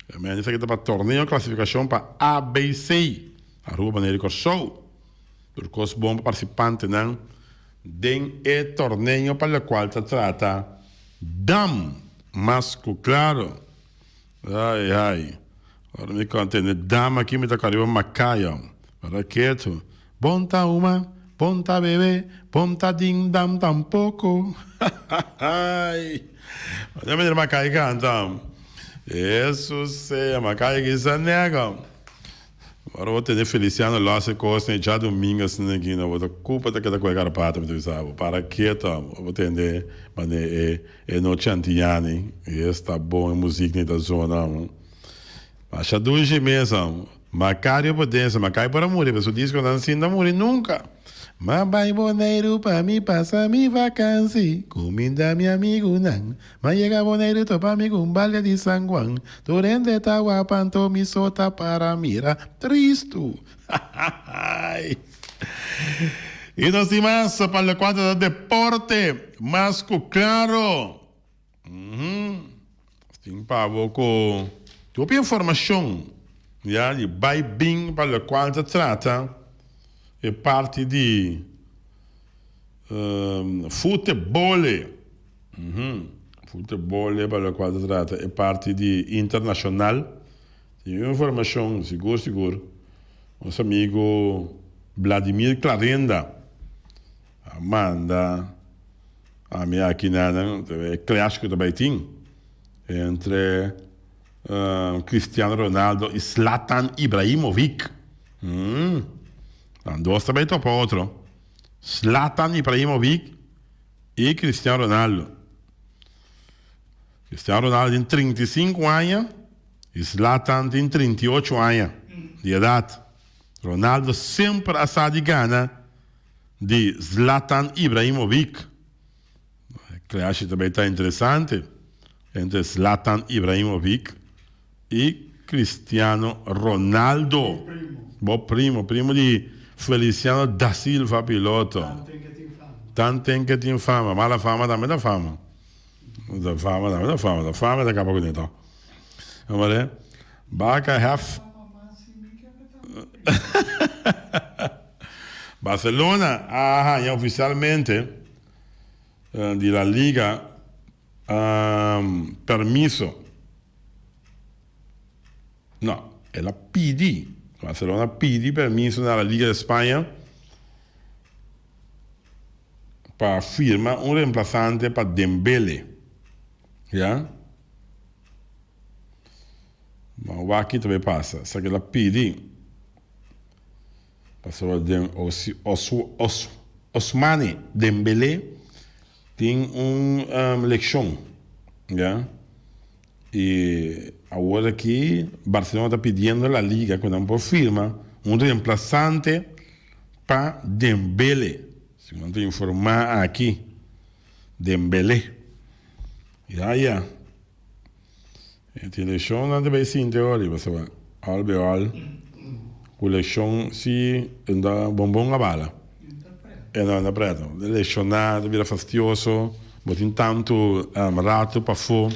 A: Esaki ta pa torneo klasifikashon pa ABC. Aruba manera di Kòrsou. Tur kos bon pa partisipantenan den e torneo pa lokual ta trata dam mas ku klaro. Ai ai ora mi kon tende dam aki mi ta kò riba Macaya. Para ketu. Bon ta huma, bon ta bebe, bon ta din dam tampoko. Hahaai. Ora mi mira Macaya kanta. Esu sea Macaya kisa nega. Ora bo tene Feliciano los e cosnan e dja domingo asina nan aquí no bo ta cu pa ta keda cu e garapata mi ta bisa bo para ke ta ora bo tende mane e e nochi antiñani y es ta bon e muzik ni ta zona amo masha dushi mes amo Macario Podense Macay por a muri pe su disco nan sin ta muri nunca ma bay Boneiru pa mi pasa mi vakansi cuminda mi amigunan M'a yega Boneiru topa mi ku un balde di San Juan, tur hende ta wapan to mi so ta para mira. Tristu! Hahahaai! I nos tin mas pa lokuantu ta deporte, mas ku klaro, nos tin pa bo ku hopi informashon, ya, di bai bin pa lokual ta trata e parti di futebole. Puta bo leba lokual ta trata e parti di internashonal. Tin un informashon sigur sigur, nos amigu Vladimir Clarenda a manda ami aki nanan ta e clash ku ta bai tin entre Cristiano Ronaldo i Zlatan Ibrahimovic. Nan dos ta bai topa otro. Zlatan Ibrahimovic. i Cristian Ronaldo. Cristian Ronaldo tin trinta i sinku aña i Zlatan tin trinta i ocho aña di edat. Ronaldo semper a sa di gana di Zlatan Ibrahimovic. E clash ta bai ta interesante entre Zlatan Ibrahimovic. I Cristiano Ronaldo, bo primo, primo di Feliciano Da Silva piloto, tan ten ke tin fama, mala fama tambe ta fama, fama tambe ta fama, fama ta kaba ku tin tok, amore Barca hef Barcelona a haña ofisialmente di La Liga Permiso. No, el a pidi. Barcelona a pidi permiso na La Liga di Spaña pa firma un remplasante pa Dembele. Ya. Bo wak ki ta bay pasa. Esaki el a pidi. Pasobra den Ousmane Dembele. Tin un lekshon, ya. I awor aki Barcelona ta pidiendo La Liga ku nan por firma un remplasante pa Dembele, segun nan ta informá aki. Dembele, ya, ya. E tin leshonnan ta bay sinti awo riba so all be all cu leshon si e ta bonbon a bala e no anda preta e leshona ta bira fastioso bo tin tanto rato pafo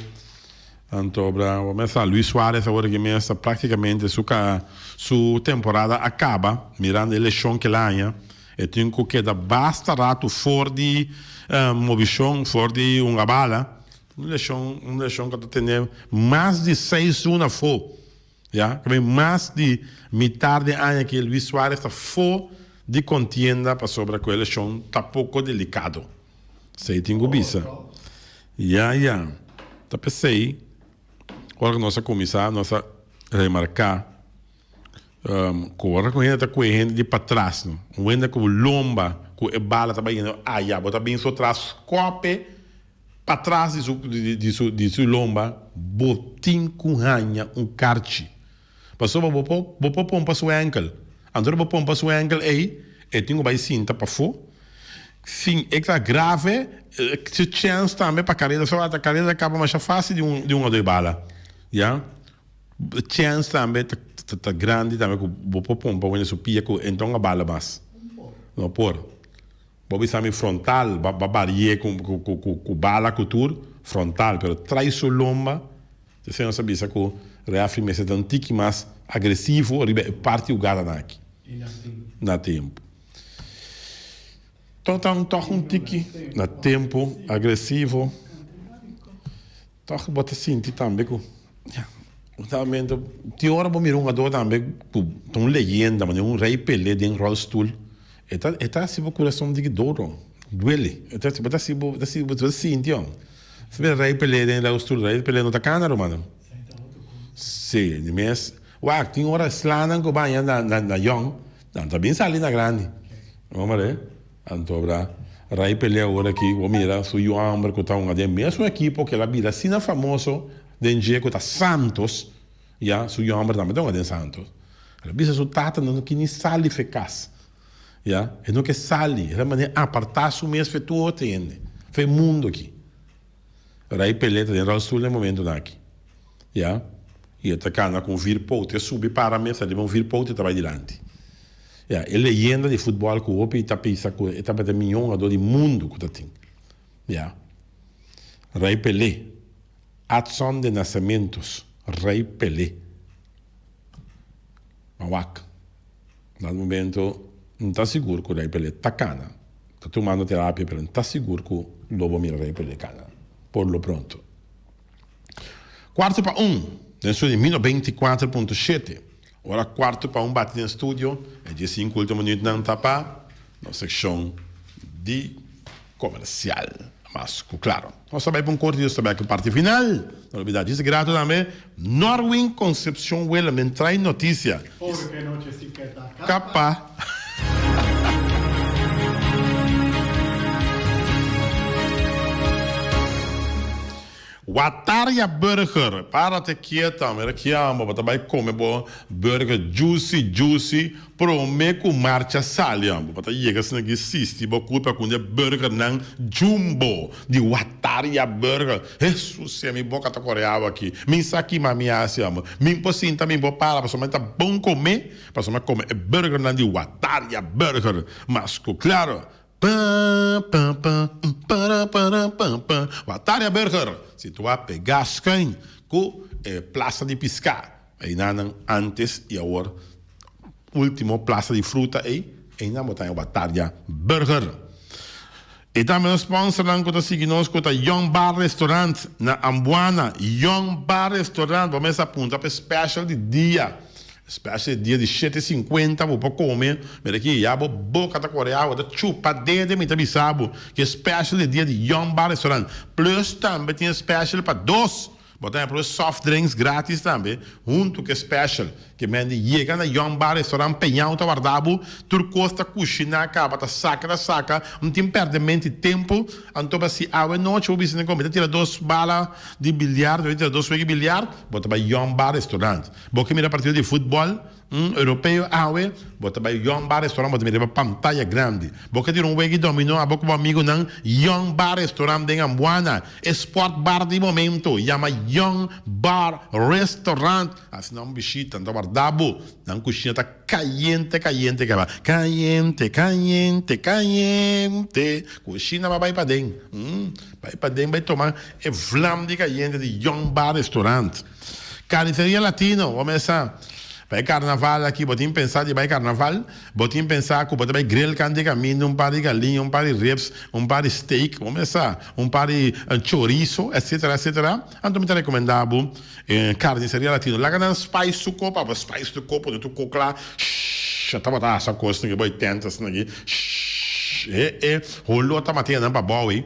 A: anto bra awor mester sa Luis Suarez awor aki mes ta practicamente su ca su temporada a caba mirando e leshon kil aña e tin cu keda basta rato for di mobishon for di un a bala. Un leshon, un leshon ku ta tene mas di seis luna afó, ya. Ta bin mas di mitar di aña ke Luis Suarez ta afó di kontienda pasobra ku e leshon ta poko delikado. Esei tin ku bisa. Ya, ya. Ta p'esei ora ku nos a kuminsá nos a remarká. Ku ora ku hende ta kue hende di patras no. Un wenda ku bo lomba ku e bala ta bai hende a ya bo ta bin so tras skope patras di su di su di su lomba bo tin ku haña un karchi pasobra bo por bo por pon pa su enkel anto bo pon pa su enkel ei e tin ku bai sinta pafo si e ta grave su chèns tambe pa kareda so a ta kareda ta kaba masha fasil di un di un otro di bala ya. chance tambe ta grandi tambe cu bo por pompa wende su pia cu enton a bala mas? No por. Bo a bisa mi frontal ba barie cu bala cu tur, frontal, pero trai su lomba, ta ser nos a bisa cu referee mester ta un tiki mas agresivo riba e parti hugada nan aki. Y na tempo. Na tempo. Tog ta un tiki na tempo, agresivo. Tòg bo ta sinti tambe ku, ya, bo ta menta, tin ora bo mira un hugadó tambe ku ta un leyenda, manera un Rey Pelé den ròlstul, e ta e ta hasi bo kurason diki doro, duele, e ta bo ta hasi bo ta bo ta sinti, oh, ta mira Rey Pelé den ròlstul, Rey Pelé no ta kana rumana, si, di mes, wak, tin ora e slanan ku baña na na na yòn, nan ta bin sali na grandi, no, Maria? Anto abra rai pelea ora ki bo mira su yu amber ku ta hunga den mesun ekipo kel a bira asina famoso den dje ku ta Santos ya su yu amber tambe ta hunga den Santos el a bisa su tata nan no ki ni sali fe kas ya e no ke sali el a mane aparta su mes fe tur otro hende fe mundo aki. Ray Pelé ta den rolstoel na e momentonan aki, ya, y e ta cana cu un vir pote, e subi para mesa riba un vir pote y ta bay dilanti. Ya, e leyenda di futbol cu hopi ta pensa cu e tabata e miño hungador di mundo cu ta tin. Ya. Ray Pelé, Adson de Nascimentos, Ray Pelé. Mawak. Na momento N ta sigur ku Rei Pelé ta kana, ta tumando terapia, pero N ta sigur ku lo bo mira Rei Pelé kana por lo pronto. Kuarto pa un den su di Mino Beinti Kuater Punto Shete, Ora kuarto pa un bati den studio, e dies sinku ultimo minutnan ta pa nos sekshon di komersial. Mas ku klaro. Nos ta bai pa un corte y nos ta bai cu parti final. No lo bida dice grato tambe. Norwin Concepcion Welamin trae noticia. Pobre que anoche si
B: ke ta kapa.
A: Wataria Burger para te kieta mira kiamba bo ta bai come bo burger juicy juicy Prome ku marcha sali amba pa ta yega asina ki sisti bo ku ta kunya burgernan jumbo di wataria burger hesusia mi boka ta kore awa aki mi sa kima mi hasi amba mi por sinta mi por para pasobra e ta bon kome pasobra mi a kome e burgernan di wataria burger mas ku klaro paapaapaa paraparapaapaa wataria burger situa pega schuin ku e plasa di piska Einanan antes y awor ultimo plaza di fruta ey, einan bo ta haña oba tarja burger. Y tambe nos sponsor nan cu ta sigui nos cu ta Young Bar Restaurant na Ambuana. Young Bar Restaurant bo mester a punta p'e special di dia. E special di dia di shete sinkuenta bo por come, mira aki ya bo boca ta corre awa, ta chupa dede mi ta bisa bo, ki e special di dia di Young Bar Restaurant. Plus tambe tin e special pa dos. Bo ta proba e soft drinks gratis tambe huntu ku e special ke men di yega na Young Bar Restaurant Peñao ta warda bo. Tur kos ta kushiná kaba, ta saka ta saka, no tin pèrdè mente i tempu. Anto pa si awe nochi bo bisa den kòmbi ta tira dos bala di biliar, ta tira dos wiki biliar, bo ta bai Young Bar Restaurant. Bo ke mira partido di futbòl. Un europeo awe, bo ta bai yon bar restaurant bo ta mira riba pantaya grandi. Bo ke dira un wegi dominó abo ku bo amigunan yon bar restaurant den Ambuana, e sport bar di momento yama yon bar restaurant. Asina un bishita nan ta warda bo, nan kushiña ta kayente kayente ke aba kayente kayente kayente kushina aba bai paden, bai paden bai toma e vlam di kayente di yon bar restaurant. Carniceria Latino, bo mester sa. Pa e carnaval aki bo tin pensa di bai carnaval, bo tin pensa cu bo ta bai grill can di caminda, un par di galin, un par di ribs, un par di steak, bo mester sa, un par di chorizo, etc. Etc. Anto mi ta recomenda bo Carniceria Latino. Laga nan spice su cop, abo spice tu cop, pone tu cop cla, shhh, a tabata asa cos nan aki, bo e tentes nan aki, shhh, eh, eh, holota matea nan pa bou ey.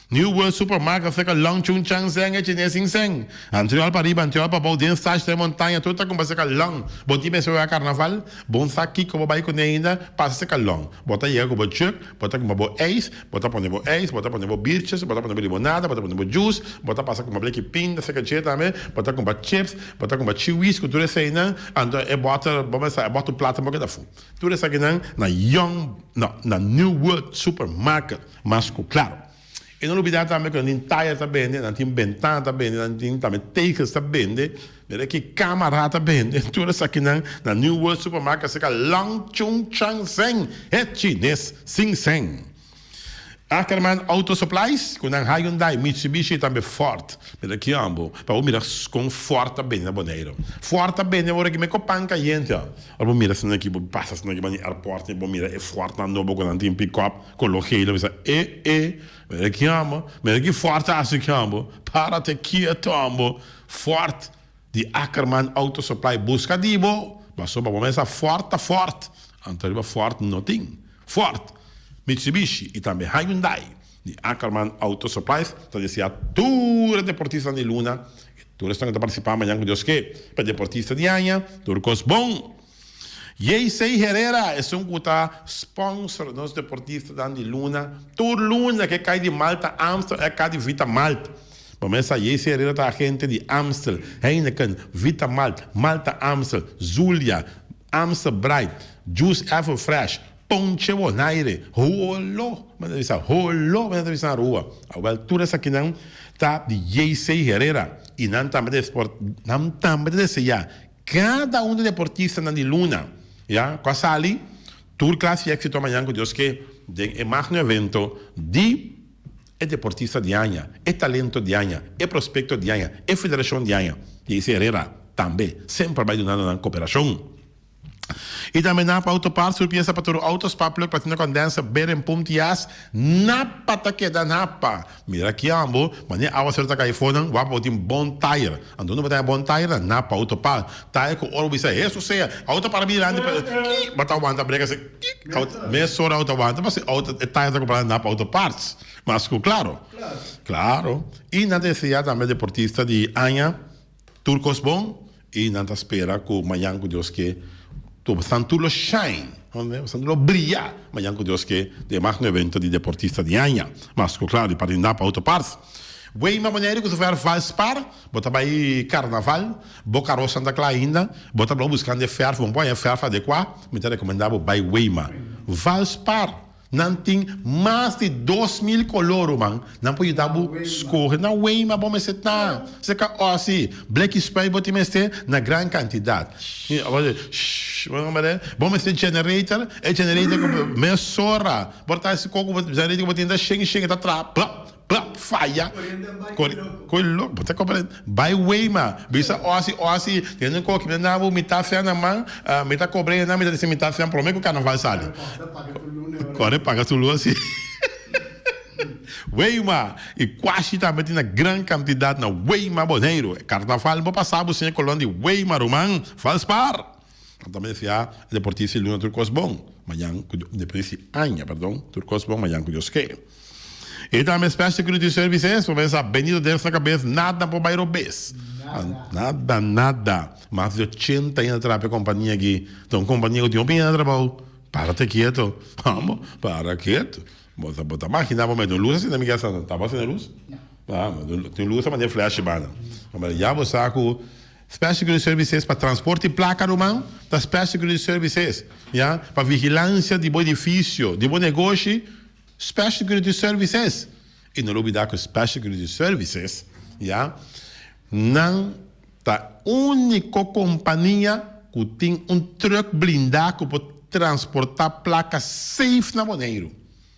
A: New World Supermark a saka lunch un chan sèn e chinés sin sèn. Antiòl pariba, antiòl pabou, den Sach den Montaña tur ta kumpa saka long. Bo tin mester wak Karnaval? Bon sa kiko bo bai kuné ainda? Pasa saka long. Bo ta yega ku bo jug, bo ta kumpa bo ijs, bo ta pone bo ijs, bo ta pone bo biertjes, bo ta pone bo limonada, bo ta pone bo juice, bo ta pasa kumpa bleki pinda saka dje tambe, bo ta kumpa chips, bo ta kumpa chiwis ku tur eseinan, anto e bòter, bo mester sa e bòter plata bo keda fu. Tur esakinan na Young, no, na New World Supermarket. Mas ku klaro. E no lo bida tambe ku nan tin taya ta bende, nan tin bentana ta bende, nan tin tambe tegels ta bende. Mira ki kama ra ta bende. Tur esakinan na New World Supermarket a seka long chun chang zeng, e chines sin zeng. Ackerman Auto Supplies, ku nan Hyundai, Mitsubishi i tambe Ford. Mira ki an bo, pa bo mira kon Ford ta bende na Boneiru. Ford ta bende ora ki me kopan kayente. Ora bo mira asina aki, bo pasa asina aki pa nan airport, bo mira e Fordnan nobo ku nan tin pick-up. Con lo Gela mester e e mester ki ambo mester ki fort asi ki ambo para te kieto ambo fort di Ackerman auto supply busca di bo paso pa bo mes a fort ta fort anto ariba fort no tin fort Mitsubishi y tambe Hyundai di Ackerman auto supplies ta desia tur e deportista di luna y tur esnan cu ta participa mañan cu Dios ke pa e deportista di aña tur cos bon. Yeisey Herrera esun cu ta sponsor nos deportistanan di luna tur luna ke cay di Malta Amstel e cadi Vitamalt. Bo mesa Yeisey Herrera ta agente di Amstel, Heineken, Vitamalt, Malta Amstel, Zulia, Amstel Bright, Juice Everfresh, Ponche Bonaire, Holo, m'a ta bisa Holo m'a ta bisa Rua. A wel tur esakinan ta di Yeisey Herrera y nan tambe ta nan tambe ta desea Cada un di deportistanan di luna, ya, cu a sali, tur clase di exito a mañan cu Dios ke den e magno evento di e deportista di aña, e talento di aña, e prospecto di aña, e federacion di aña. Daisy Herrera tambe semper a bay dunando nan cooperacion. Y tambe Nap Auto Parts, tur pieza pa tur auto, spark plug, platina condenser, bearing, pump, tias, Nap pa ta keda Nap pa. Mira aki ambo, mane awaser ta kai fonan, wak bo tin bon tayer. Anto no bo ta e bon tayer nan, na pau ta pa. Tayer ku ora bo bisa hesu sea, au ta para mirandi pa el, ki bo ta wanta brega se, ki au ta, mesora au ta wanta, pasobra au ta, e tayer ta compra nan na pau ta parts. Mas ku claro. Claro. I nan ta e sea tambe deportista di aña. Tur kos bon y nan ta spera cu mañan cu Dios ke cu bastan tur lo shine, bastan tur lo briya mañan cu Dios ke den magno evento di deportista di aña. Mas cu claro di parte Napa Auto Parts. Wey m'a manera cu ta fo'i Valspar, bo ta bay carnaval, bo caros nan ta cla ainda, bo ta blo buscando e ferf, bo no por haña ferf adequa, mi ta recomenda bo bay Weyma. Valspar! Nan tin mas di dos mil color ruman, nan por yuda bo scoge na way ma bo mester ta. Esei ca osi, bleki spray bo tin mester na gran cantidad. Bo mester generator, e generator cu mester sora bo ta haci coco generator cu bo tin ta sheng sheng e ta traha. Plap faya cu e loco bo ta comprende bay wey ma bisa osi osi tene un coki bina nabo mi ta fian na man mi ta cobra enan mi ta deci mi ta fian prome cu carnaval sali core paga su luna si wey ma y cuashi tambe tin na gran cantidad na wey ma boneiru carnaval bo pasa bo siña colon di wey ma ruman valspar. Nan ta mester siá e deportista e luna tur kos bon, mañan ku Dios, depende si aña, perdon, tur kos bon, mañan ku Dios ke. E ta mi Special Security Services pa men sa bendito dens na kabes nada por bai robes. Nada, nada. Mas di ochenta aña ta traha pa e kompania aki, ta un kompania ku tin hopi aña trabou. Para te keto, vamos, para keto. Bo ta, bo ta maginá bo mete un lus asina mi ke asina, ta bo asina lus? Tin lus ta manda e flash bana. Yabo sa ku Special Security Services pa transport y placa ruman ta Special Security Services ya pa vigilancia di bo edificio, di bo negoshi Special Security Services y no lo olbida cu Special Security Services ya nan ta unico compania cu tin un truck blinda cu por transporta placa safe na Boneiru.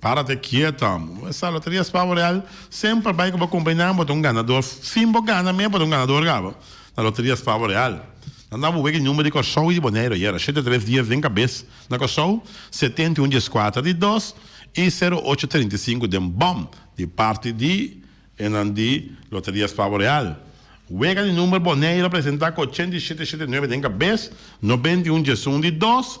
A: Para te kiet amo. Sa loteria es pavo real semper bai cu bo cumplenan bo ta un ganador sin bo gana mey bo ta un ganador caba na loteria es pavo real nan ta abo wege number di Corsou y di Boneiru ayera shete tres dies den cabes na Corsou setenta y un dies cuatra di dos y sero ocho treinta y cinco den bom di parti di e nan di loteria es pavo real wega di number Boneiru presenta cu ochenta y shete shete nuebe den cabes noventa y un dies un di dos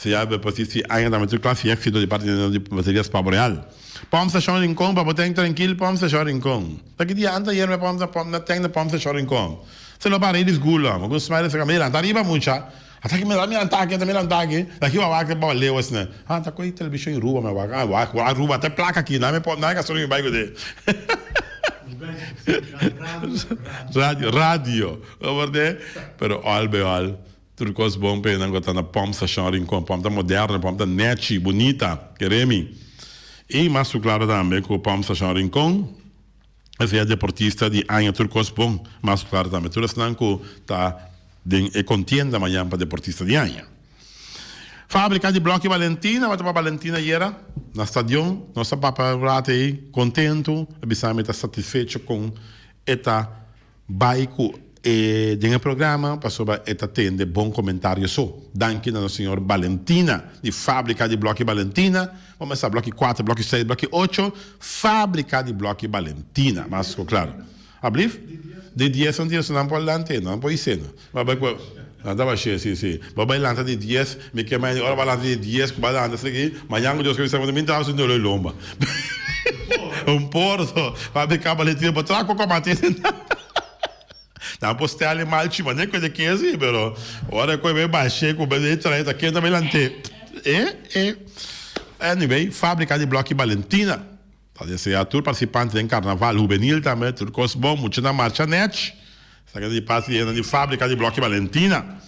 A: Sea bo por si si aña ta mester cla si exito di parte di nos di bateria es pabo real. Pump station Rincon pa bo teng trankil pump station Rincon. Ta ki dia anta ayer me pump na pump na teng na pump station Rincon. Se lo para Edis Gula mo gun smile a saka me lanta ariba mucha. Ata ki me lanta me lanta aki ata me lanta aki. Na ki bo a wak bo a leu asina. Ha ta koy television i Ruba me a wak a wak a Ruba ata e plak aki na me pump na e gasolina mi bai ku de. Radio radio. Lo por de pero all be all. Tur kos bon pa e nan ku a ta na Pom Stashon Rincon. Pom ta moderno, Pom ta nechi, bunita, kere mi. I mas ku klaro tambe ku Pom Stashon Rincon a sea deportista di aña tur kos bon. Mas ku klaro tambe tur esnan ku ta den e kontienda mañan pa deportista di aña. Fabrika di Blòkkie Valentina, wata pa Valentina ayera na stadion. Nos a papia un rato ei, kontentu, a bisa mi ta satisfecho kon e ta Bai ku e den e programa pasobra e ta tende bon komentario so. Danki na nos señor Balentina di Fábrika di Blòki Balentina. Bo mester sa blòki kuater, blòki seis, blòki ocho, Fábrika di Blòki Balentina. Mas ko klar. Ablif. Di dies anterior so nan por lant'é, nan por is'é. Bo bai cu lanta ba shee, si, si. Bo bai lanta di dies, mi ke mañana di ora ba lanta di dies cu ba lanta esaki, mañana cu Dios keda mi salva ta mi tao si no lo e lomba. Un por so, pa mi caba le tiempo tra cu comati si no. Nan por stele mal chi, ma ne cu eda ke si, pero ora cu e bai shee cu be trae ta kenda bai lante, eh, eh. Anyway, fabrica di bloki Balentina. Pa desea tur participante den Carnaval Juvenil tambe tur cos bon, mucha na marcha nech sacando di parte di hendanan di fabrica di Bloque Valentina.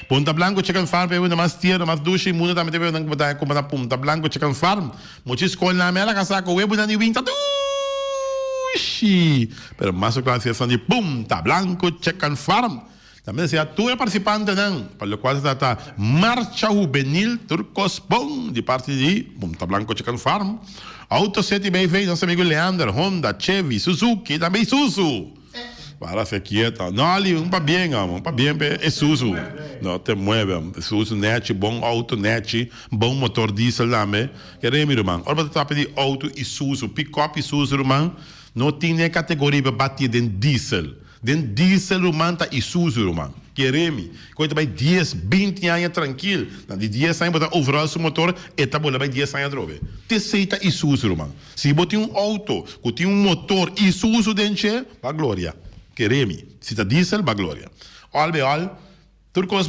A: Punta Blanco Chicken Farm ta ewe na mas tierno, mas dushi di mundo tambe ta ewe ewenan cu bo ta cumpra na Punta Blanco Chicken Farm. Mucha escolnan me a laga sa cu we bunan di win ta dushi, pero mas cu clara si esnan di Punta Blanco Chicken Farm. Ta mester a tur e participantenan, pa locual se trata Marcha Juvenil Tur Cos Bon di parti di Punta Blanco Chicken Farm, Auto City BV, nos amigo Leander, Honda, Chevy, Suzuki y tambe Isuzu. Para hacer quieto. No Ali, un pa bien amo, un pa bien pe Isuzu. No te mueve. Isuzu nechi, bon auto nechi, bon motor diesel tambe. Ke remi ruman. Ora bo ta trata di auto Isuzu, pick-up Isuzu ruman, no tin ni e categoria pa bati den diesel. Den diesel ruman ta Isuzu ruman. Jeremy, cu e ta bay dies, binti aña trankil, na di dies aña bo ta overhaul su motor, e ta bol'e bay dies aña atrobe. T'esey ta Isuzu ruman. Si bo tin un auto cu tin un motor Isuzu den dje, ba gloria. Jeremy, Si ta diesel, ba gloria. All bij all, tur cos.